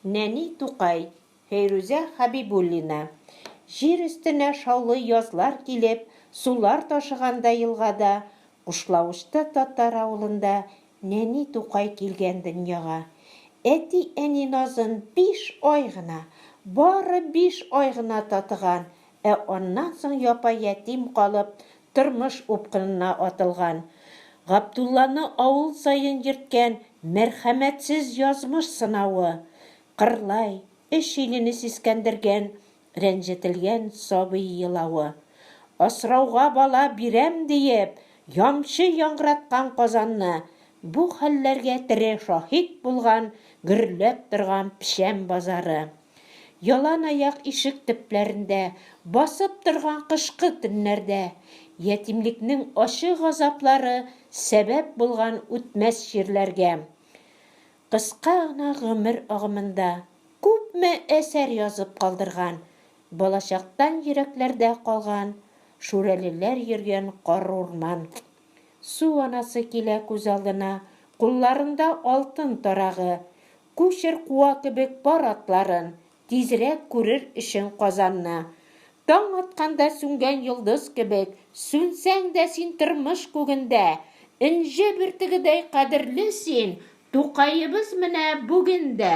Нәни Тукай, Фәйрүзә Хәбибуллина. Җир өстенә шаулый язлар килеп, сулар ташыганда елгада, Кушлавычта татар авылында Нәни Тукай килгән дөньяга. Әти-әни назын биш ай гына, бары биш ай гына татыган Ә аннан соң япа-ятим калып, тормыш упкынына атылган. Габдулланы авыл саен йөрткән мәрхәмәтсез язмыш сынавы, кырлай, өч илене сискәндергән рәнҗетелгән сабый елавы, асрауга бала бирәм диеп, ямчы яңгыраткан Казанны, бу хәлләргә тере шаһит булган гөрләп торган печән базары, Яланаяк ишек төпләрендә Басып торган кышкы төннәрдә Ятимлекнең ачы газаплары Сәбәп булган үтмәс җирләргә. Кыска гына гомер агымында Күпме әсәр язып калдырган, Балачактан йөрәкләрдә калган Шүрәлеләр йөргән карурман. Су анасы килә күз алдына, Кулларында алтын тарагы, Күчер куа кебек пар атларын, Тизрәк күрер өчен Казанны. Таң атканда сүнгән йолдыз кебек, Сүнсәң дә син тормыш күгендә. Энҗе бөртегедәй кадерле син, Тукаебыз менә бүген дә.